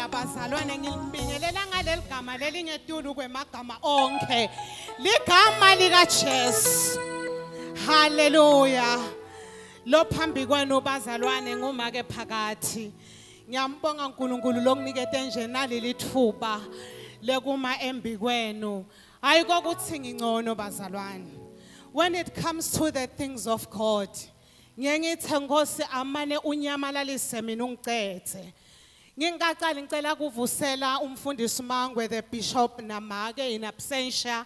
bazalwane ngilibingelela ngaleli gama lelingetulu kwemagama onke ligama likajesu haleluya lo phambi kwenu bazalwane ngumake phakathi ngiyambonga unkulunkulu lokunikete nje naleli thuba lekuma embi kwenu Hayi kokuthi ngingcono bazalwane. When it comes to the things of God, ngiye ngithe Nkosi amane unyamalalise mina ungicethe. Ngingaqali ngicela kuvusela umfundisi Mangwe the bishop namake in absentia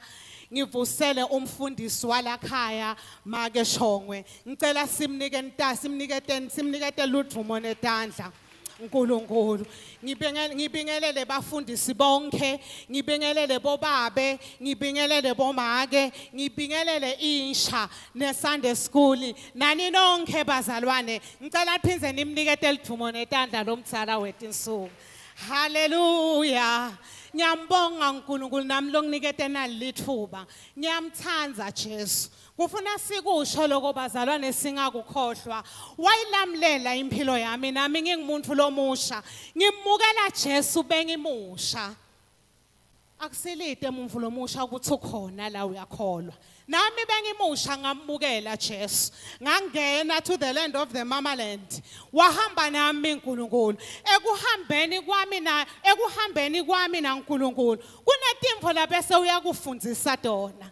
ngivusele umfundisi walakhaya make shongwe ngicela simnike ntasi simnike ten simnike teludvumo netandla Nkulunkulu ngibingelele ngibingelele bafundisi bonke ngibingelele bobabe ngibingelele bomake ngibingelele insha ne Sunday school nani nonke bazalwane ngicela phindze nimnikete lidumo netandla lomzala wetinsuku haleluya ngiyambonga uNkulunkulu nami longinikete nalithuba ngiyamthanda Jesu Kufuna sikusho lokho bazalwane singakukhohlwa. Wayilamlela impilo yami nami ngingumuntu lomusha. Ngimukela Jesu bengimusha. Akusilide umuntu lomusha ukuthi ukhona la uyakholwa. Nami bengimusha ngamukela Jesu. Ngangena to the land of the mamaland. Wahamba nami uNkulunkulu. Ekuhambeni kwami na ekuhambeni kwami naNkulunkulu. Kunetimfo lapho esewuyakufundisa tona.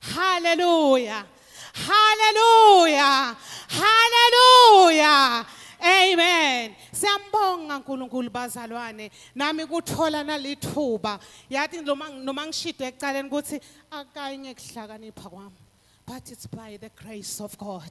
Hallelujah. Hallelujah. Hallelujah. Amen. Siyambonga uNkulunkulu bazalwane. Nami kuthola nalithuba. Yathi noma noma ngishide ekucaleni ukuthi akanye kuhlakanipha kwami. But it's by the grace of God.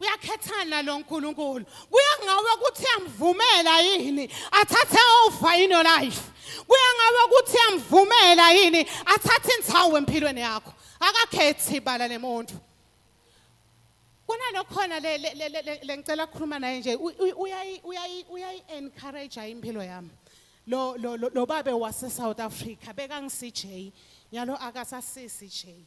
uyakhethana lo nkulunkulu kuya ngawe ukuthi uyamvumela yini athathe over in your life kuya ngawe ukuthi uyamvumela yini athathe insawu empilweni yakho akakhethi ibala lemuntu kunalokhona le ngicela ukukhuluma naye nje uyayi-encourage impilo yami lo lo lo babe wase South Africa bekangisijay nyalo akasasisi jay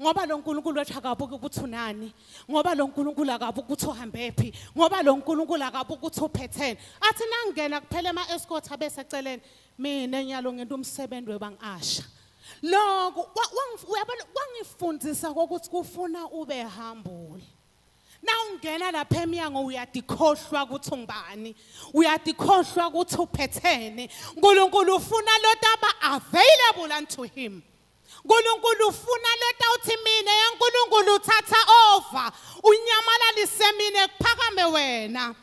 ngoba lo nkulunkulu wethu akabuki ukuthi unani ngoba lo nkulunkulu akabuki ukuthi uhambephi ngoba lo nkulunkulu akabuki ukuthi uphethene athi nangingena kuphela ema-escort abeseceleni mina nyalo ngento umsebenzi webangi-asha loko kwangifundisa kokuthi kufuna ube hambule nawungena lapha emyango uyadikhohlwa ukuthi ungubani uyadikhohlwa ukuthi uphethene unkulunkulu ufuna lotaba available unto him Nkulunkulu ufuna leta uthi mina yaNkulunkulu uthatha over unyamalalisise mina kuphakame wena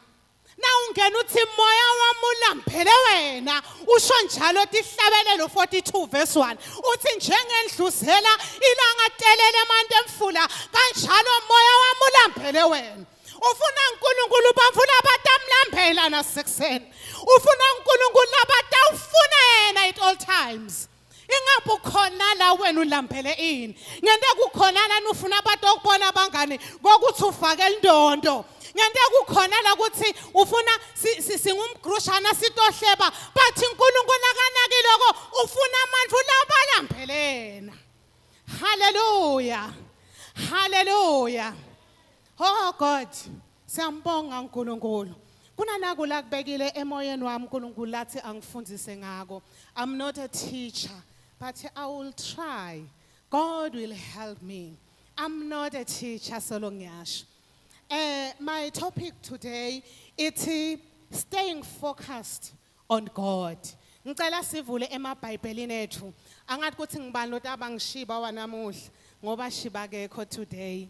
nawungena uthi moya wami ulambele wena usho njalo tihlabelelo 42 verse 1 uthi njengendluzela ilanga telele emanti emfula kanjalo moya wami ulambele wena ufuna uNkulunkulu ubafuna abantu amlambela nasekuseni ufuna uNkulunkulu abatawufuna yena at all times ingabe ukhona la wena ulambele ini ngento ekukhona lana ufuna abantu okubona abangani kokuthi ufake indondo ngento ekukhona la ukuthi ufuna singumgrushana sitohleba but uNkulunkulu akanakile ko ufuna amandla ulabalambelena haleluya haleluya oh god Siyambonga uNkulunkulu. Kunanaku la kubekile emoyeni wami uNkulunkulu lathi angifundise ngako. I'm not a teacher, but I will try. God will help me. I'm not a teacher solo ngiyasho. Eh my topic today ithi staying focused on God. Ngicela sivule emabhayibhelini ethu. Angathi ukuthi ngibani lotaba ngishiba wanamuhla ngoba shiba kekho today.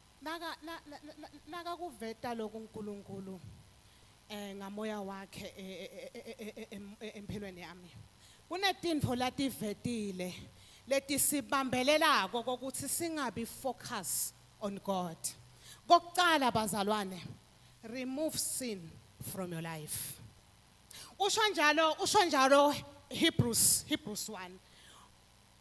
Naka na, na, na, naka kuveta lokhu uNkulunkulu eh ngamoya wakhe empilweni yami. Kunetinfo lativetile letisibambelelako kokuthi singabi focus on God. Kokuqala bazalwane, remove sin from your life. Usho njalo, usho njalo Hebrews, Hebrews 1.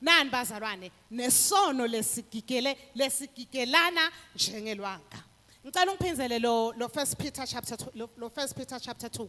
Nani bazalwane nesono lesigigele lesigigelana njengelwanga. Ngicela ungiphinzele lo lo First Peter chapter 2 lo, lo First Peter chapter 2.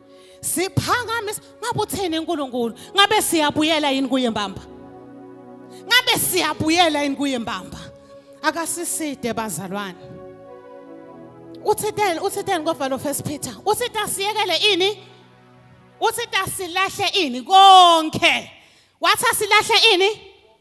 siphakamisa ngabe uthini uNkulunkulu ngabe siyabuyela yini kuye mbamba ngabe siyabuyela yini kuye mbamba akasiside bazalwane uthitheni uthitheni kovalo first peter usithi asiyekele ini usithi asilahle ini konke wathi asilahle ini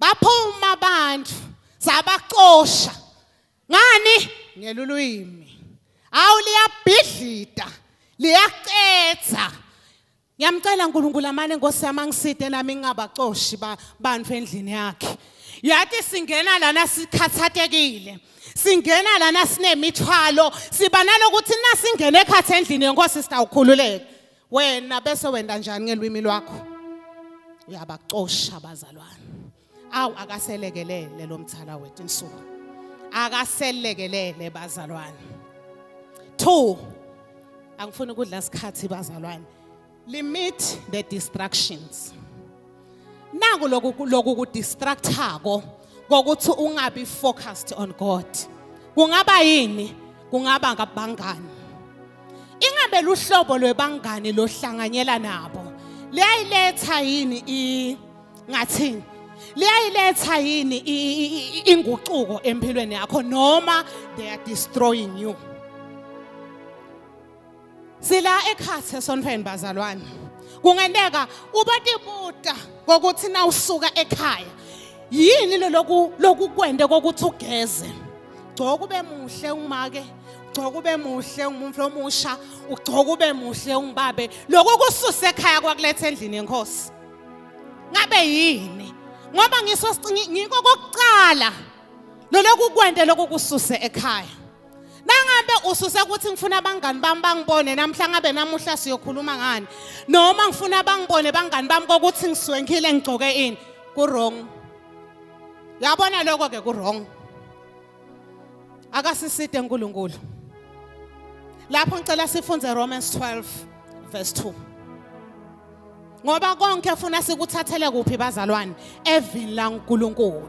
baphuma abantu sabacosha ngani ngelulwimi awu liyabhidlita liyaqetha ngiyamcela uNkulunkulu amane Nkosi yami angiside nami ngingabacoshi bantu endlini yakhe yathi singena lana sikhathatekile singena lana sinemithwalo siba nalokuthi nasingene ekhathi endlini yenkosi sitawukhululeka wena bese wenda njani ngelwimi lwakho uyabacosha abazalwane awu akaselekelele lo mthala wethu insuku akaselekelele bazalwane 2 angifuni ukudla isikhathi bazalwane limit the distractions naku loku loku ku distractako kokuthi ungabi focused on God kungaba yini kungaba ngabangani ingabe luhlobo lwebangani lohlanganyela nabo liyayiletha yini i ngathini liyayiletha yini inguquko empilweni yakho noma they are destroying you Sila ekhathi esontweni bazalwane. Kungenteka ubatibuta kokuthi na usuka ekhaya. Yini lo loku lokukwende kokuthi ugeze? Gcoka ube muhle umake. Gcoka ube muhle umuntu omusha, ugcoka ube muhle ungibabe. Lokho kususe ekhaya kwakulethe endlini yenkosi. Ngabe yini? Ngoba ngiso ngiko kokuqala loloku kwende lokukususe ekhaya. nangabe ususe ukuthi ngifuna abangani bami bangibone namhla ngabe namuhla siyokhuluma ngani noma ngifuna bangibone bangani bami kokuthi ngiswenkile ngigcoke ini ku-wrong yabona lokho-ke ku-wrong akasiside nkulunkulu lapho ngicela sifunde romans 12 verse 2 ngoba konke efuna sikuthathele kuphi bazalwane evini lankulunkulu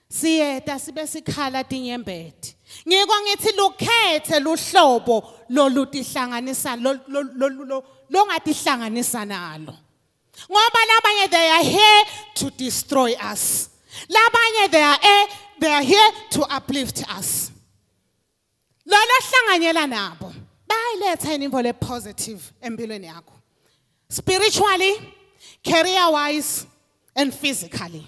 Siyeta sibe sikhala tinyembeti. Ngiko ngithi lukhethe luhlobo lolutihlanganisa longatihlanganisa nalo. Ngoba labanye they are here to destroy us. Labanye they are here, they are here to uplift us. lona hlanganyela nabo bayiletha yini imvolo epositive empilweni yakho spiritually career wise and physically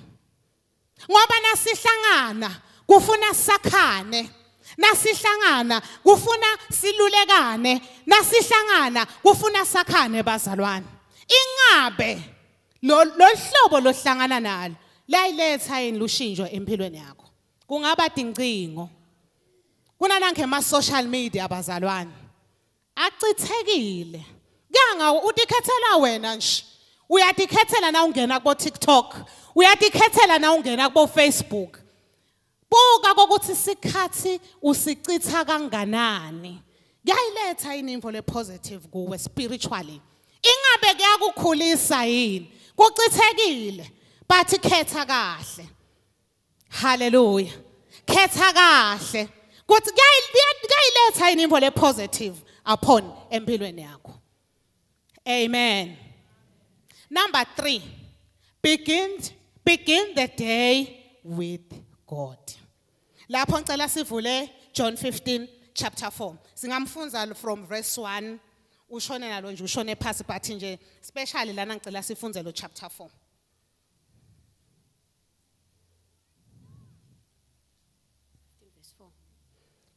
ngoba nasihlangana kufuna sakhane nasihlangana kufuna silulekane nasihlangana kufuna sakhane bazalwane ingabe lo hlobo lohlangana nalo layiletha yini lushintsho empilweni yakho kungaba dincingo kunanange ma social media bazalwane achithekile kanga utikhethela wena nje uyatikhethela na ungena kubo TikTok uyatikhethela na ungena kubo Facebook buka ukuthi sikhathi usichitha kanganani kuyayiletha yini imvo le positive kuwe spiritually ingabe kuyakukhulisa yini kuchithekile bathi khetha kahle Hallelujah. Khetha kahle. Kuthi kuyayiletha yini imvo le positive upon empilweni yakho. Amen. Number 3. Begin begin the day with God. Lapho ngicela sivule John 15 chapter 4. Singamfunza from verse 1 ushone nalo nje ushone phasi but nje specially lana ngicela sifunze lo chapter 4.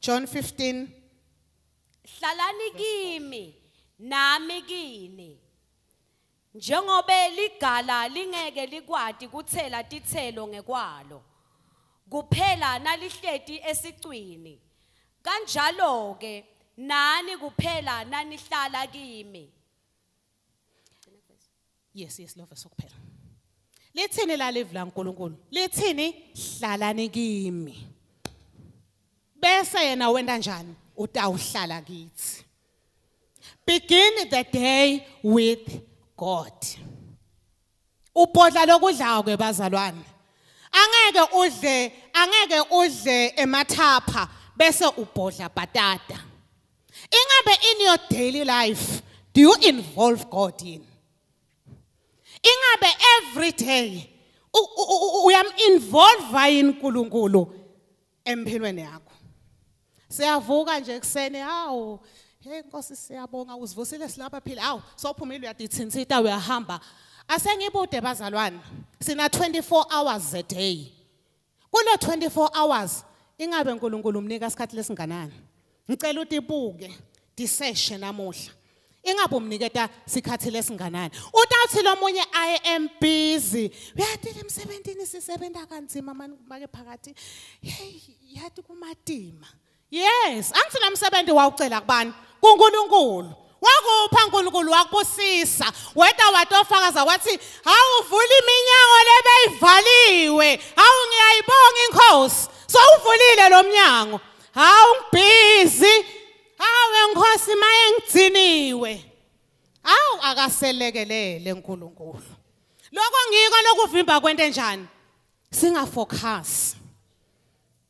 John 15 Hlalani kimi nami kini njengobe ligala lingeke likwati kuthela titselo ngekwalo kuphela nalihleti esicwini kanjalo ke nani kuphela nanihlala kimi yes yes love sokuphela lithini lalivu laNkulunkulu lithini hlalani kimi bese yena wenda njani utawuhlala kithi begin the day with God Ubhodla lokudlayo ke bazalwane. Angeke udle, angeke udle emathapha bese ubhodla bhatata. Ingabe in your daily life do you involve God in? Ingabe every day uyam involve yini uNkulunkulu empilweni yakho siyavuka nje ekuseni hawu hey nkosi siyabonga usivusile silapha phila hawu sophumile uyadithinsita uyahamba asengibude bazalwane sina 24 hours a day kulo 24 hours ingabe uNkulunkulu umnika isikhathi lesinganani ngicela utibuke diseshe namuhla ingabe umniketa sikhathi lesinganani utawuthi lomunye i am busy uyatile emsebenzini sisebenza kanzima make phakathi hey yathi kumatima yes angithi nomsebenzi wawucela kubani kuNkulunkulu wakupha uNkulunkulu wakubusisa weda watofakaza wathi awuvula iminyango lebeyivaliwe awu ngiyayibonga inkosi sowuvulile lo mnyango hawu ngibhizi hawe nkosi maye ngigciniwe awu akaselekelele uNkulunkulu lokho ngiko lokuvimba kwento enjani singafocus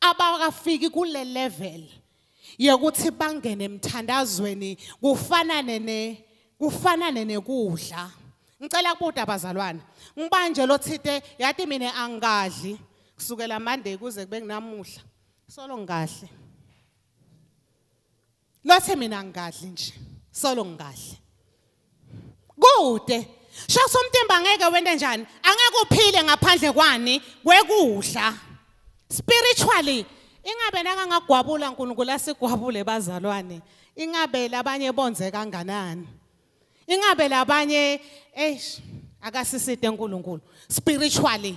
abakafiki kule level yokuthi bangene emthandazweni kufanane ne kufanane nekudla ngicela kubuda abazalwane ngibanje lo thite yathi mina angadli kusukela mande kuze kube kunamuhla solo ngahle Lothe mina ngingadli nje. Solo ngingadli. Kude. Sho somtemba ngeke wente njani? Angeke uphile ngaphandle kwani kwekudla. Spiritually ingabe nakangagwabula uNkulunkulu asigwabule bazalwane. Ingabe labanye bonze kanganani? Ingabe labanye eish akasisite uNkulunkulu spiritually.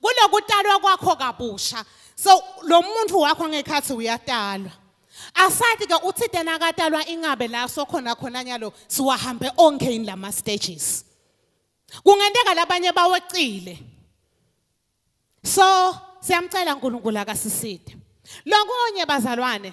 kulokutalwa kwakho kabusha so lo muntu wakho ngekhathi uyatalwa asathi ke uthi tena akatalwa ingabe la sokhona khona nyalo siwahambe onke yini lama stages kungenteka labanye bawecile so siyamcela uNkulunkulu akasiside lokunye bazalwane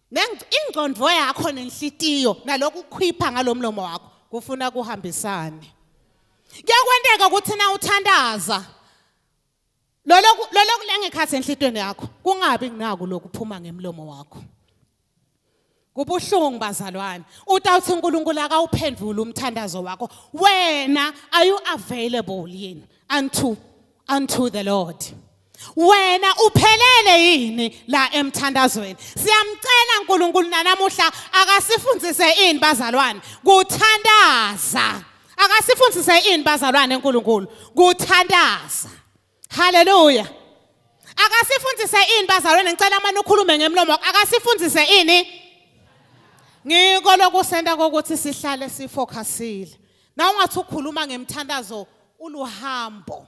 ingqondo yakho nenhlitiyo naloku khipha ngalomlomo wakho kufuna kuhambisane kuyakwenteka ukuthi na uthandaza loloku loloku lengekhathi enhlitweni yakho kungabi nginaku lokuphuma ngemlomo wakho kubuhlungu bazalwane utawuthi uNkulunkulu akawuphendule umthandazo wakho wena are you available yini unto unto the lord wena uphelele yini la emthandazweni siyamcela uNkulunkulu nanamuhla akasifundise ini bazalwane kuthandaza akasifundise ini bazalwane uNkulunkulu kuthandaza haleluya akasifundise ini bazalwane ngicela manje ukhulume ngemlomo akasifundise ini ngiko lokusenta kokuthi sihlale sifocusile na ungathi ukhuluma ngemthandazo uluhambo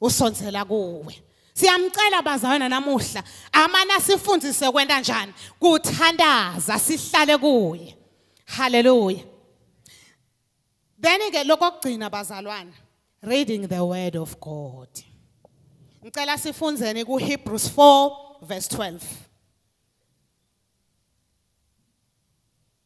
usondzela kuwe siyamcela bazalwana namuhla amana sifundise kwenta njani kuthandaza sihlale kuye haleluya then ke lokugcina bazalwana reading the word of god ngicela sifundzeni ku Hebrews 4 verse 12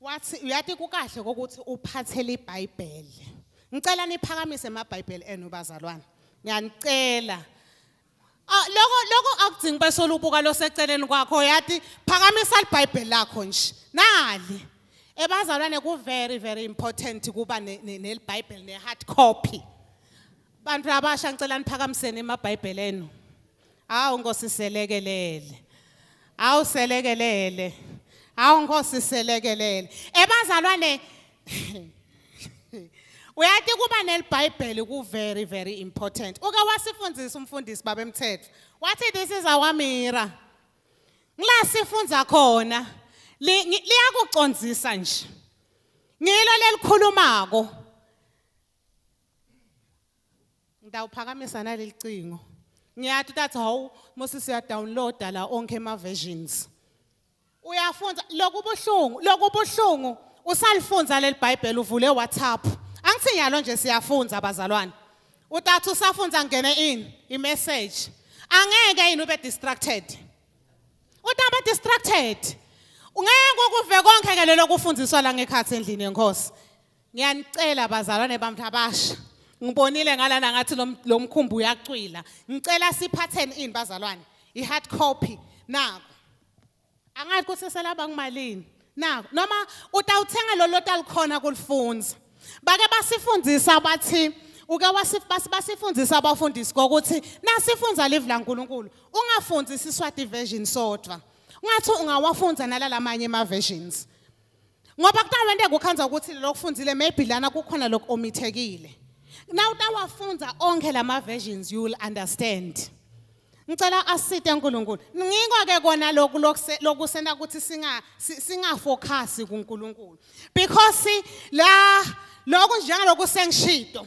wathi uyati kukahle ukuthi uphathele iBhayibheli ngicela niphakamise amaBhayibheli enu bazalwane ngiyanicela ah, lokho lokho akudzingi besolo ubuka loseceleni kwakho uyati phakamisa iBhayibheli lakho nje nali ebazalwane ku very very important kuba neBhayibheli ne hard copy Bantu abasha ngicela niphakamiseni emabhayibheli enu. Hawu Nkosi selekelele. Hawu selekelele. Hawu Nkosi selekelele. Ebazalwane Uyathi kuba nelibhayibheli ku very very important. Uke wasifundisa umfundisi babemthetho. Wathi this is our mirror. Ngila sifunza khona liyakucondzisa nje. Ngilo lelikhulumako. Ngidawuphakamisa naleli cingo. Ngiyathi that how Moses uya download la onke ama versions. Uyafunda lokubuhlungu, lokubuhlungu usalifunza leli Bible uvule WhatsApp. Angithi nyalo nje siyafunza bazalwane. Utathu usafunza ngene in i message. Angeke yini ube distracted. Utaba distracted. Ungeke ukuve konke ke lelo kufundiswa la ngekhathi endlini yenkosi. Ngiyanicela bazalwane bami abasha. Ngibonile ngalana ngathi lo mkhumbi uyacwila. Ngicela siphatheni ini bazalwane? I-hard copy naku. Angathi ukuthi selaba kumalini. Naku noma utawuthenga lolo talikhona kulifunza. Bake basifundisa bathi uke basifundisa abafundisi kokuthi nasifunza live laNkulunkulu ungafunzi isiswati version sodwa. Ungathi ungawafunza nalalamanye ama versions. ngoba kuqala into engikukhanza ukuthi lokufundile maybe lana kukhona lokho omithekile now utawafundza onkhe lama versions you will understand ngicela asite uNkulunkulu ngikho ke kona lokhu lokusenta ukuthi singa singafocus kuNkulunkulu because la lokhu njengaloku sengishito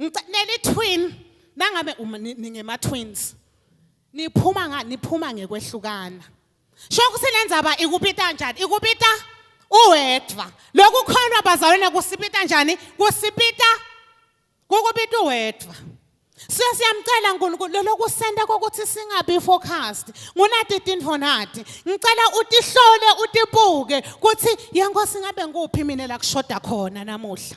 Ngicela twin nangabe uma ni- ningema twins. Niphuma nga niphuma ngekwehlukana. Sho ukuthi lenzaba ikupita njani? Ikupita uwedwa. Lokhu khona bazalwane kusipita njani? Kusipita kukupita uwedwa. So siyamcela uNkulunkulu lelokusenta kokuthi singabi focused. Ngunati tinfo nati. Ngicela utihlole utibuke kuthi yenkosi ngabe ngikuphi mina la kushoda khona namuhla.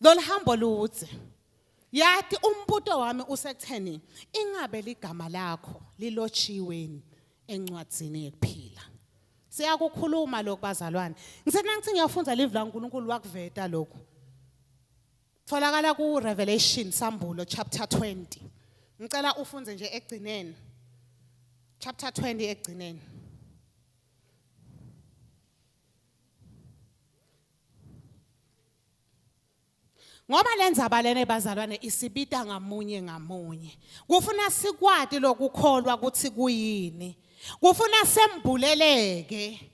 Lolihambo ludze. Yati umbuto wami usekutheni ingabe ligama lakho lilotshiweni encwadzini yekuphila. Siyakukhuluma lokhu bazalwane. Ngisena ngithi ngiyafundza live la uNkulunkulu wakuveta lokhu. Tholakala ku Revelation Sambulo chapter 20. Ngicela ufunde nje egcineni. Chapter 20 egcineni. ngoba lenzaba lena ebazalwane isibita ngamunye ngamunye kufuna sikwati lokukholwa ukuthi kuyini kufuna sembuleleke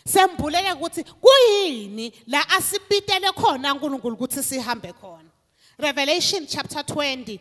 sembulele ukuthi kuyini la asibitele khona uNkulunkulu ukuthi sihambe khona Revelation chapter 20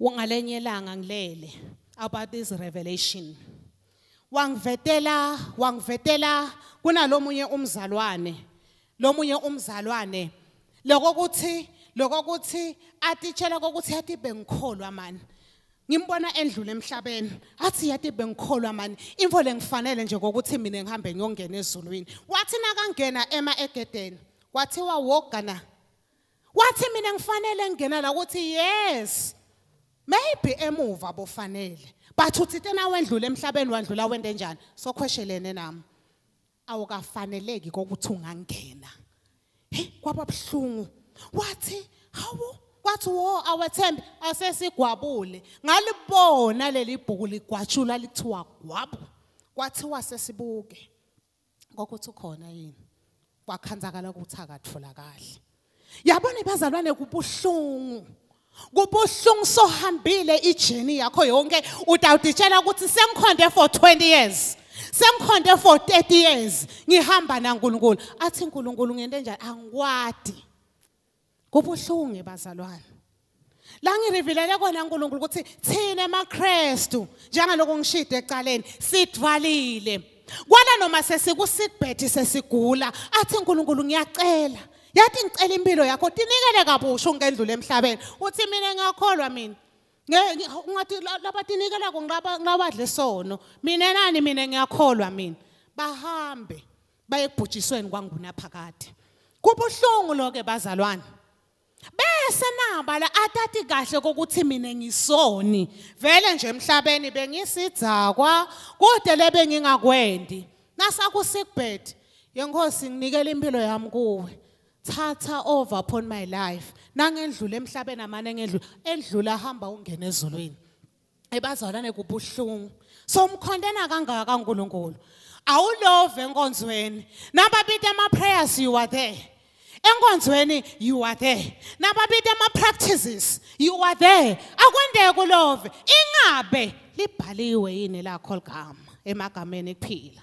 Ungalenye ilanga ngilele about this revelation. Wangivetela, wangivetela kunalomunye umzalwane. Lomunye umzalwane lokho ukuthi lokho ukuthi atitshela kokuthi yathi bengikholwa mani ngimbona endlule emhlabeni athi yathi bengikholwa mani info lengifanele nje kokuthi mina ngihambe ngiyongena ezulwini wathi nakangena ema egedeni kwathiwa wogana wathi mina ngifanele ngingena la ukuthi yes maybe emuva bofanele but uthi tena wendlule emhlabeni wandlula wende njani sokhweshelene nami awukafaneleki kokuthi ungangena hey kwaba buhlungu wathi hawu wathi wo awethembe asesigwabule ngalibona leli bhuku ligwatshula lithiwa gwabu kwathiwa sesibuke kokuthi ukhona yini kwakhanzakala ukuthi akatholakali yabona bazalwane kubuhlungu kubuhlungu sohambile ijeni yakho yonke utawuditshela ukuthi sengikhonde for 20 years sengikhonde for 30 years ngihamba naNkulunkulu athi uNkulunkulu ngento enjani angikwadi Kubuhlungu bazalwane. La ngirevealele kona uNkulunkulu ukuthi thina emaKristu njengaloko ngishide ecaleni sidvalile. Kwala noma sesikusibhethi sesigula athi uNkulunkulu ngiyacela yathi ngicela impilo yakho tinikele kabusha ungendlule emhlabeni uthi mina ngiyakholwa mina ngathi labatinikelako ngabadle sono mina nani mina ngiyakholwa mina bahambe bayekubhujisweni kwangunaphakade kubuhlungu loke bazalwane bese nabala atati kahle kokuthi mina ngisoni vele nje emhlabeni bengisidzakwa kude lebe ngingakwendi nasakusigbed yenkosi nginikele impilo yami kuwe thatha over upon my life nangendlula emhlabeni amane ngedlula endlula hamba ungena ezulwini ebazalwane kubuhlungu so umkhontena kangaka kaNkuluNkulu awulove enkonzweni nababita ama prayers you are there enkonzweni you are there nababita ama practices you are there akwendeke kulove ingabe libhaliwe yini lakho ligama emagameni kuphila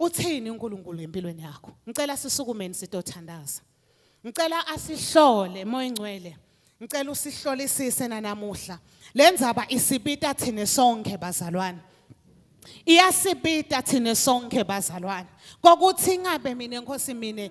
Uthini uNkulunkulu empilweni yakho? Ngicela sisukumeni sitothandaza. Ngicela asihlole moya ingcwele. Ngicela usihlolisise nanamuhla. Lenzaba isipita thina sonke bazalwane. Iyasipita thina sonke bazalwane. Kokuthi ingabe mina Nkosi mina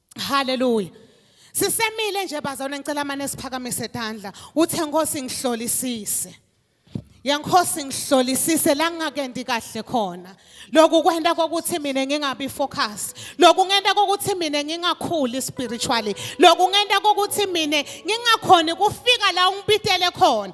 Hallelujah. Sisemile nje bazalwane ngicela mane siphakamise tandla. Uthe Nkosi ngihlolisise. Yankosi ngihlolisise la ngingakendi kahle khona. Lokhu kwenta kokuthi mina ngingabi focus. Lokhu ngenta kokuthi mina ngingakhuli spiritually. Lokhu ngenta kokuthi mina ngingakhoni kufika la ungibitele khona.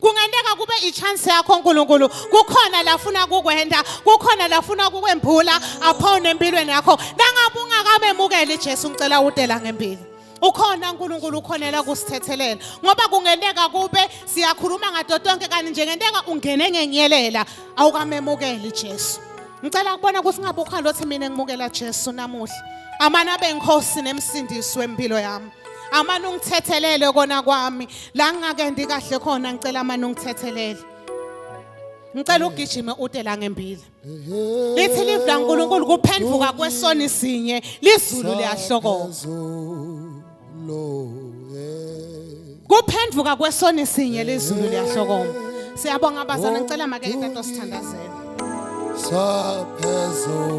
kungenteka kube ichance yakho uNkulunkulu kukhona lafuna kukwenda kukhona lafuna kukwembula aphone empilweni yakho nangabe ungakamemukeli Jesu ngicela udela ngempilo ukhona uNkulunkulu ukhonela kusithethelela ngoba kungenteka kube siyakhuluma ngato tonke kanti nje ngenteka ungene ngenyelela awukamemukeli Jesu ngicela kubona ukuthi ngabe ukhona lothi mina ngimukela Jesu namuhla amana benkosi nemsindisi wempilo yami amane ungithethelele kona kwami la ngingakendi kahle khona ngicela amane ungithethelele ngicela ugijime ude la ngembila lithi live la nkulunkulu kuphenduka kwesoni sinye lizulu liyahlokoka kuphenduka kwesoni sinye lizulu liyahlokoma siyabonga abazana ngicela make itato sithandazela saphezulu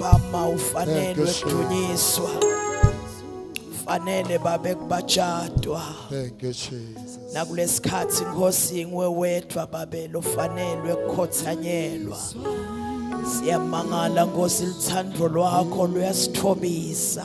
Mama ufanelwe kudunyiswa. Fanele babe kubatshadwa. Thank you Jesus. Nakulesikhathi Nkosi ngwe wedwa babe lofanelwe kukhothanyelwa. Siyamangala Nkosi lithandro lwakho luyasithobisa.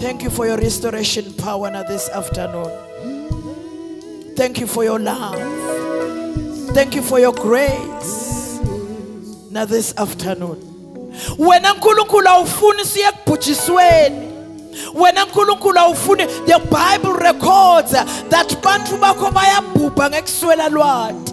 Thank you for your restoration power now this afternoon. Thank you for your love. Thank you for your grace now this afternoon. Wena Nkulunkulu awufuni siye kubhujisweni. wena nkulunkulu awufuni the bible records that bantu bakho bayabhubha ngekuswela lwati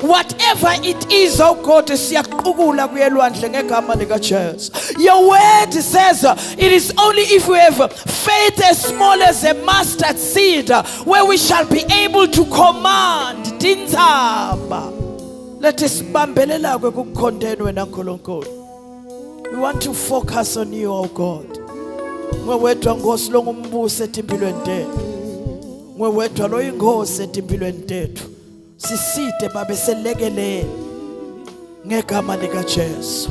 Whatever it is, oh God, siyaqukula kuyelwandle ngegama likaJesu. Your word says uh, it is only if we have faith as small as a mustard seed uh, where we shall be able to command tinzaba. Let us bambelela kukukhondeni wena Nkulunkulu. We want to focus on you, oh God. Ngwe wedwa Nkosi longumbuso etimpilweni tethu. Ngwe wedwa loyingosi etimpilweni tethu. siside babe selekelele ngegama likaJesu